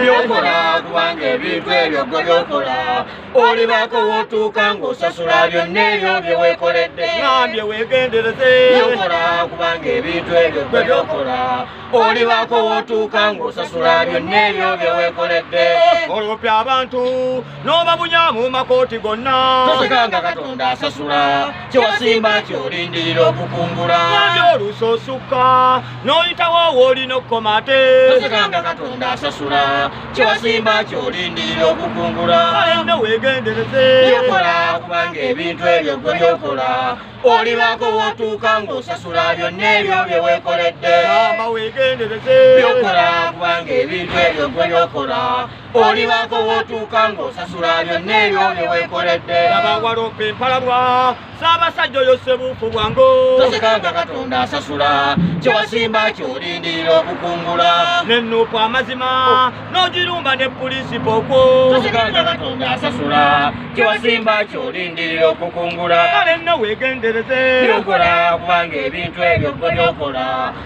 byokola kubanga ebintu ebyo gwe byokola olibaako wotuuka ng'osasula byonna ebyo bye weekoledde nambye weegendereze byokola kubanga ebintu ebyo gwe byokola olibaako wotuuka ng'osasula byonna ebyo bye weekoledde olopya abantu n'obabunya mu makooti gonna tosekanga katonda asasula kyewasimba kyolindirira okukungula nambye olusosuka n'oyitawo woolina okukoma ate tosikanga katonda asasula kyewasimba kyolindirira okukungula alenda weegendereze byokola kubanga ebintu ebyo gwe byokola olibaako wootuuka ng'osasula byonna ebyo bye weekoledde ama weegendereze byokola kubanga ebintu ebyo gwe byokola olibaako wootuuka ng'osasula byonna ebyo bye weekoledde abawala ope empalabwa Ssaabasajja oyo ssebuufu bwango tosikanga katonda asasula kyewasimba kyolindirira okukungula nenuupu amazima n'ogirumba ne puliisi pookwo tosikanga katonda asasula kyewasimba kyolindirira okukungula kale nno weegendereze byokola kubanga ebintu ebyo gwe byokola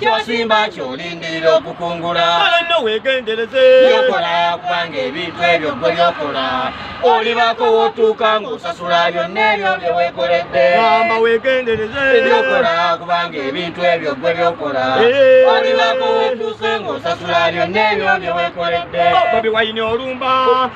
kyosimba kyolindirira okukungula kale nno weegendereze byokola kubanga ebintu ebyo gwe byokola olibako wotuuka ng'osasula byonna ebyo bye weekoledde gamba weegendereze byokola kubanga ebintu ebyo gwe byokola eh. olibako wotuuse ng'osasula byonna ebyo bye weekoledde oh, bobi wayini olumba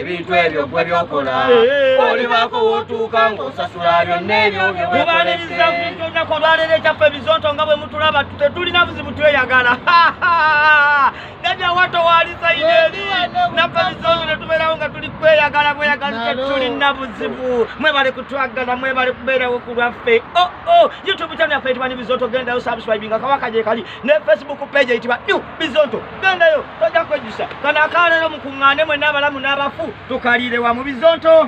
ebintu ebyo gwe byokola olibaako wotuuka ng'osasula byonna ebyo byomubaniriza bintu olunaku olwaleero ekyaffe ebizonto nga bwe mutulaba tetulina buzibu tweyagala nabi awato waalisayineeri naffe ebizonto netubeerawo nga tuli kweyagala bweyagala tetulina buzibu mwebale kutwagala mwebale kubeerawo ku lwaffe oo oh, oh, youtube channel yaffe etibwa ne bizonto gendayo subscribinga kawaka gyekali ne facebook page eyitibwa new bizonto gendayo tojja kwejjusa kano akaalero mukuŋŋaane mwenna abalamu n'abafu tukaliire wa mu bizonto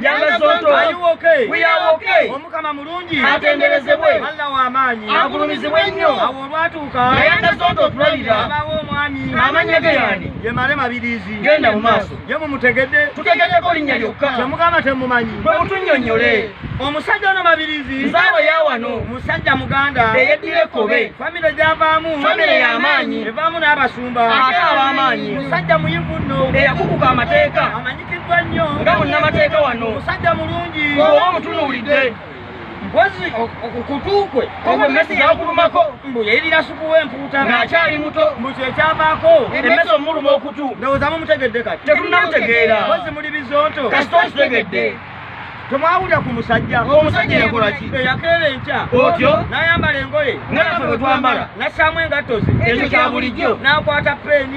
omukama mulungi atenderezebwe alla w'amaanyi agulumizibwe nnyo awo olwatuuka naye nga zonto otulabira abaawo omwami amannya ge yani ye mare mabiriizi genda mu maaso ye mumutegedde tutegeddeko linnya lyokka kyemugamba temumanyi bwe mutunnyonnyole omusajja ono mabirizi nzaawa yawano musajja muganda eyeddira ekkobe famire gyavaamu famire y'amaanyi evaamu n'abasumba ate ab'amaanyi musajja muyivu nno eyakukuka amateeka amanyikiddwa nnyo nga munnamateeka wano musajja mulungi oba omutunuulidde mpozi okukutu kwe emmeso yakulumako mbu yayirira supu w'empuuta ng'akyali muto mbu kyekyavaako emmeso omuluma okutu ndowooza mumutegedde kati tetunamutegeera mpozi muli bizonto kasita okitegedde temwawulira ku musajja omusajja yakolaki eyakeera enkya otyo n'ayambala engoye nga nafe bwe twambala n'assaamu engatto ze ekyo kya bulijjo n'akwata peeni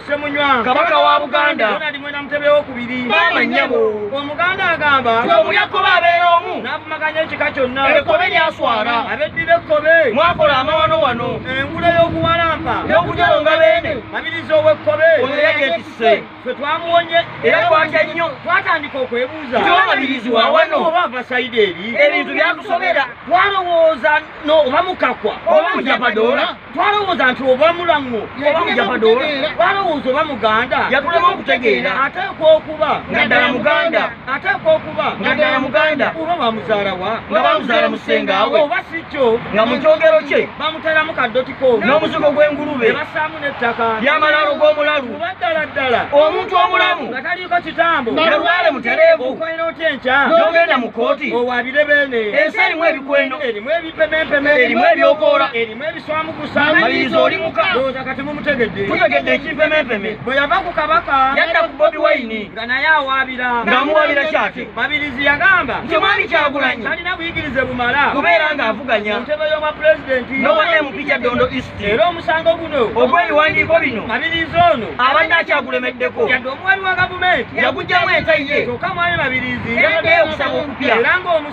Semunywa kabaka wa Buganda Ronald Mwenda Mutebe w'okubiri maama nnyabo omuganda agamba nti omulya kkobe abeera omu n'avumaganya ekika kyonna ekkobe lyaswala abeddira ekkobe mwakola amawano wano engule y'okuwalampa n'okujalonga beene mabiriza ow'ekkobe oyo yagetisse ffe twamuwonye era twatya nnyo twatandika okwebuuza tiwamabirizi wa wano oba ava sayidi eri ebintu byakusobera twalowooza no oba mukakwa oba mujapadoola twalowooza nti oba mulaŋŋo oba mujapadoola twalowooza oba muganda yatulema okutegeera ateeka okuba nga ddala muganda ateeka okuba nga ddala muganda oba bamuzaala wa nga bamuzaala musengaawe oba si kyo nga mu kyogero kye bamuteeramu kaddotiko n'omuzigo gw'engulube basaamu n'ettaka ly'amalaalo g'omulalu oba ddala ddala omuntu omulamu nga taliiko kitambo nalwale mutereevu okolera otya enkya n'ogenda mu kkooti owaabire beene ensi erimu ebikweno erimu erimu ebyokoola erimu ebiswamukusa maliriza oli muka ndowooza kati mumutegedde tutegedde ekimpemempeme bwe yava ku kabaka yadda ku bobi wayini nga naye awaabira ng'amuwaabira kyate mabirizi yagamba nti omwami kyagulanyi talina buyigirize bumala kubeera ng'avuganya ntebe y'obwa pulezidenti n'owa mp kya dondo east era omusango guno ogw'ebiwandiiko bino mabirizi ono abadde akyagulemeddeko yadde omuwali wa gavumenti yagujjamu entayiye kyokka mwami mabirizi yaddeyo okusaba okupya era ng'omu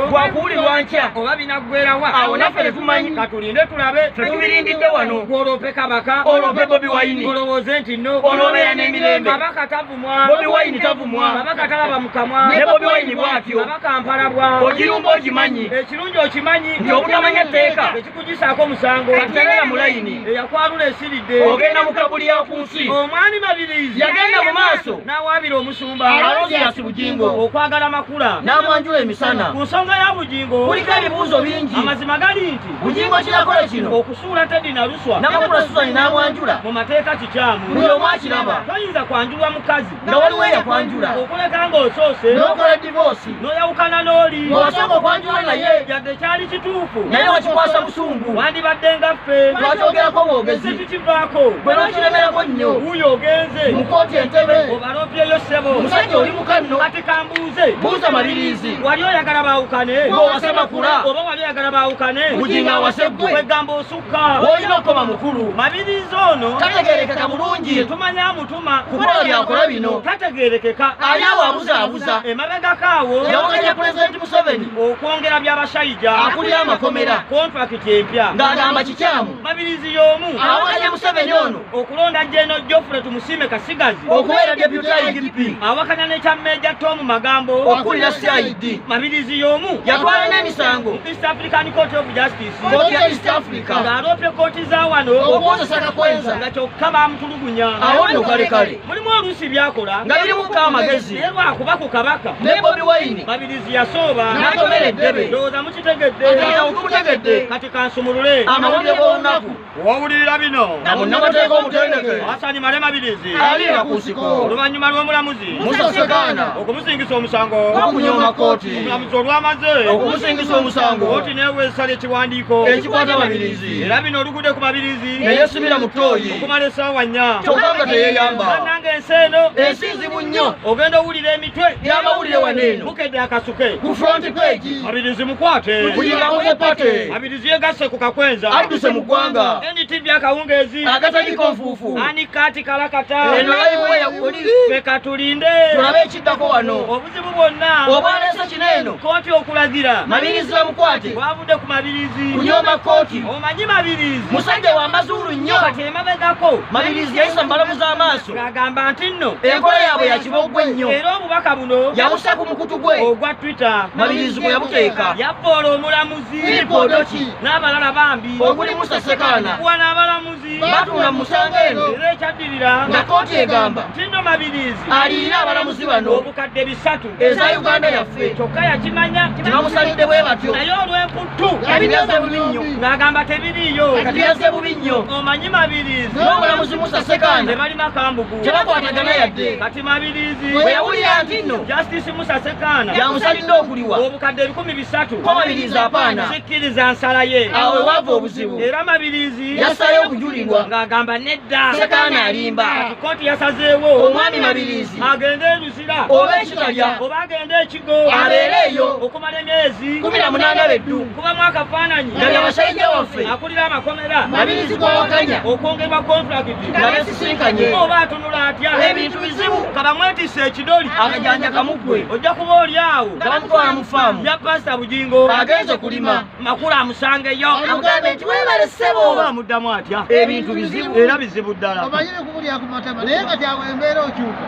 gwakuwulirwa nkya oba binaggwerawa awo naffe tetumanyi katulinde tulabe tetubirindidde wano gwoloope kabaka oloope bobi wayini olowooze nti no oloobeera n'emirembe kabaka tavumwa bobi wayini tavumwa kabaka talaba mu kamwa ne bobi wayini bwatyo kabaka mpalabwa ogirumba ogimanyi ekirungi okimanyi nti obutamanya tteeka kugisaako musango atagala mulayini eyakwalula esiridde ogenda mu kabuli ya ku nsi omwami mabirizi yagenda mu maaso n'awaabira omusumba alonziasi bugingo okwagala makula n'amwanjula emisana ku nsonga ya bugingo kuliko ebibuuzo bingi amazima gali nti bugingo kirakola kino okusuula tedi naluswa namakula suzani n'amwanjula mu mateeka kikyamu buli omu akiraba toyinza kwanjulwa mukazi nga waliwo eyakwanjula okuleka ng'osoose n'okola divoosi n'oyawukana n'oli ng'osooka okwanjula naye yadde kyali kituufu naye wakikwasa busungu wandibadde nga ffe twakyogerako bwogezi tukivaako bwe n'okiremerako nnyo wuyo ogenze mu kooti entebe obalopyeyo ssebo omusajja oli mukanno kati kambuuze buuza mabiriizi wali oyagala baawukane ng'owase makula oba wali oyagala baawukane buginga awase ggwe kwegamba osukka olina okukoma mukulu mabiriizi ono kategerekeka bulungi tetumanya mutu kukola byakola bino tategerekeka ani awabuzaabuza emabegako awo yawakanya pulezidenti museveni okwongera byabashayija akulira amakomera kontrakiti empya ng'agamba kikyamu mabirizi y'omu awakanya museveni ono okulonda jeno jofule tumusiime kasigazi okubeera deputy idp awakanya nekya meja tomu magambo okulira cid mabirizi y'omu yatwala n'emisango east african court of justice kkooti ya east africa ng'aloopye kkooti za wano okuwozesa kakwenza nga kyokka bamutulugunya awo nno kale kale mulimu oluusi byakola nga birimuka amagezi naye lwakuba ku kabaka ne bobi wayini babirizi yasooba n'atomera eddebe ndowooza mukitegedde kati kansumulule amawulire g'olunaku Wawulirira bino na munnamateeka omutendeke Hassan Male Mabirizi aliira ku nsiko oluvannyuma lw'omulamuzi Musa Ssekaana okumusingisa omusango okunyooma kkooti omulamuzi olwamaze okumusingisa omusango kkooti neewa esala ekiwandiiko ekikwata Mabirizi era bino olugudde ku Mabirizi ne yeesibira mu ttooyi okumala essaawa nnya kyokka nga teyeeyamba bannange ensi eno ensi nzibu nnyo ogenda owulira emitwe gy'amawulire wano eno bukedde akasuke ku front page Mabirizi mukwate kuyingawo ne pate Yegasse ku kakwenza adduse mu ggwanga NTV akawungeezi akataliiko nfuufu ani kati kalakata eno layivuwa yakuli ffe katulinde tulabe ekiddako wano obuzibu bwonna obwaleese kino eno kooti okulagira mabirizi bamukwate bwavudde ku mabirizi kunyomba kooti omanyi mabirizi musajja wa mazuulu nnyo kati emabegako mabirizi yayisa mu balamu z'amaaso agamba nti nno enkola yaabwe yakiboggwa ennyo era obubaka buno yawusa ku mukutu gwe ogwa twitter mabirizi gwe yabuteeka yavvoola omulamuzi Filipodoki n'abalala bambi okuli Musa Sekaana kuwa n'abalamuzi batuula mu musango eno era ekyaddirira nga kkooti egamba Tindo Mabiriizi aliyina abalamuzi bano obukadde bisatu eza Uganda yaffe kyokka yakimanya tebamusalidde bwe batyo naye olw'emputtu yabiryaze bubi nnyo ng'agamba tebiriiyo yabiryaze bubi nnyo omanyi Mabiriizi n'omulamuzi Musa Sekaana tebali makambugu tebakwatagana yadde kati Mabiriizi bwe yawulira nti nno Justice Musa Sekaana yamusalidde okuliwa obukadde ebikumi satu omabirizi apaana sikkiriza nsala ye awo ewaava obuzibu era mabirizi yasayo okujulirwa ng'agamba nedda sekaana alimba kikooti yasazeewo omwami mabirizi agende eruzira oba ekitalya oba agende ekigo abeere eyo okumala emyezi kumi na munaana beddu kubamu akafaananyi nalya basajja waffe amakomera mabirizi gwawakanya okwongerwa kontulakiti nabesisinkanye oba atunula atya ebintu bizibu kabamwetisa ekidoli akajanja kamugwe ojja kuba oli awo kabamutwala mu faamu ya pasita bugingo agenze kulima makulu amusangeyo amugambe nti webale ssebo oba amuddamu atya ebintu bizibu era bizibu ddala omanyire kubulya ku matama naye nga kyawe embeera okyuka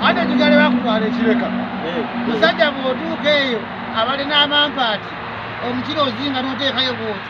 ate kigale bakutwala ekireka eh. musajja bwotuuka eyo abalina amampaati omukira ozinga noteekayo bwoti